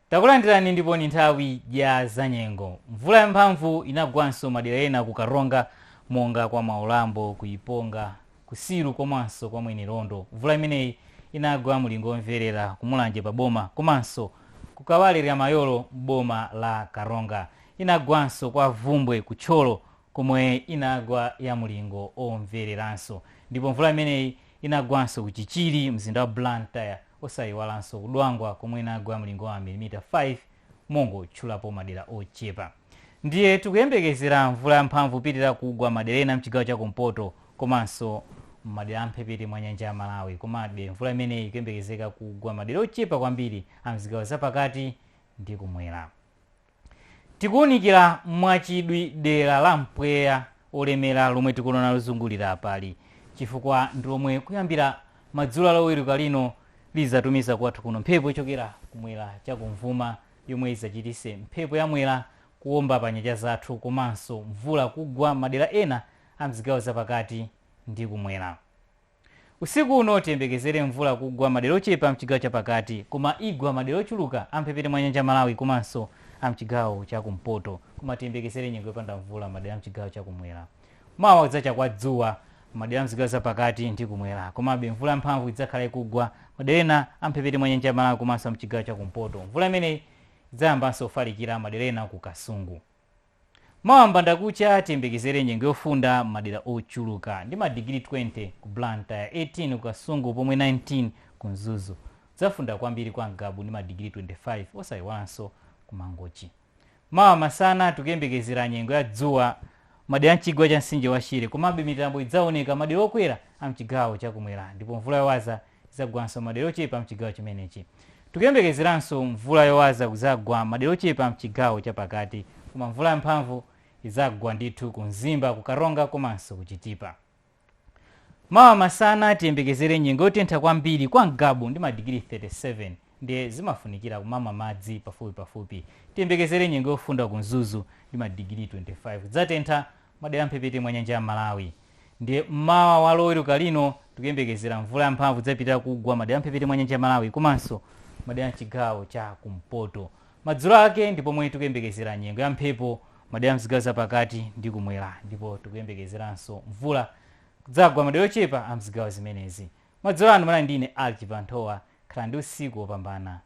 Takulandirani ndipo ni nthawi ya zanyengo. Mvula ya mphamvu inagwanso madera ena ku Karonga monga kwa Mwaulambo, ku Iponga, ku Silu komanso kwa Mwenelondo. Mvula imeneyi inagwa mulingo omverera ku Mulanje pa boma komanso ku Kawale Lyamayolo m'boma la Karonga. Inagwanso kwa Bvumbwe ku Thyolo komwe inagwa ya mlingo omvereranso ndipo mvula imeneyi inagwanso ku Chichiri, mzinda wa Blantyre osayiwalanso ku Dwangwa komwe inagwa mlingo wa mamilimita 5 mongotchulapo madera ochepa. Ndiye tikuyembekezera mvula yamphamvu ipitirira kugwa madera ena mchigawo cha kumpoto komanso m'madera a mphepete mwa nyanja ya Malawi komabe mvula imeneyi ikuyembekezeka kugwa madera ochepa kwambiri a mzigawo zapakati ndi kumwera. Tikuunikira mwachidwi dera la mpweya wolemera lomwe tikuliona lozungulira apali, chifukwa ndi lomwe kuyambira madzulo a Loweluka lino lidzatumiza kwathu kuno mphepo yochokera kumwera chakumvuma yomwe idzachititse mphepo ya Mwera kuomba pa nyanja zathu komanso mvula kugwa madera ena a m'zigawo zapakati ndi kumwera. Usiku uno tiyembekezere mvula kugwa madera ochepa amchigawo chapakati koma igwa madera ochuluka amphepete mwa nyanja ya Malawi komanso amchigawo chakumpoto koma tiyembekezere nyengo yopanda mvula madera amchigawo chakumwera. Mawa kudzacha kwa dzuwa madera amzigawo zapakati ndi kumwera komabe mvula yamphamvu idzakhala ikugwa madera ena amphepete mwa nyanja ya Malawi komanso amchigawo chakumpoto. Mvula imeneyi idzayambanso kufalikira madera ena ku Kasungu. Mawa mbandakucha tiyembekezere nyengo yofunda m'madera ochuluka ndi madigiri 20 ku Blantyre, 18 ku Kasungu pomwe 19 ku Mzuzu. Kudzafunda kwambiri kwa Ngabu ndi madigiri 25 osaiwalanso ku Mangochi. Mawa masana tikuyembekezera nyengo ya dzuwa m'madera a m'chigwa cha mtsinje wa Shire komabe mitambo idzaoneka madera okwera a m'chigawo cha kumwera ndipo mvula yowaza izagwanso madera ochepa mchigawo chimenechi. Tikuyembekezeranso mvula yowaza kuzagwa madera ochepa mchigawo chapakati koma mvula yamphamvu izagwa ndithu ku Mzimba, ku Karonga komanso ku Chitipa. Mawa masana tiyembekezere nyengo yotentha kwambiri kwa Ngabu ndi madigiri 37. ndiye zimafunikira kumamwa madzi pafupipafupi. Tiyembekezere nyengo yofunda ku Mzuzu ndi madigiri 25. Kudzatentha madera a m'mphepete mwa nyanja ya Malawi. Ndiye mmawa wa Loweruka lino tikuyembekezera mvula yamphamvu idzapitirira kugwa madera a m'mphepete mwa nyanja ya Malawi komanso madera a m'chigawo cha kumpoto. Madzulo ake ndi pomwe tikuyembekezera nyengo ya mphepo madera a m'zigawo zapakati ndi kumwera ndipo tikuyembekezeranso mvula kudzagwa madera ochepa a m'zigawo zimenezi. Madzulo ano munali ndi ine Alki Banthowa. Khalani ndi usiku wopambana.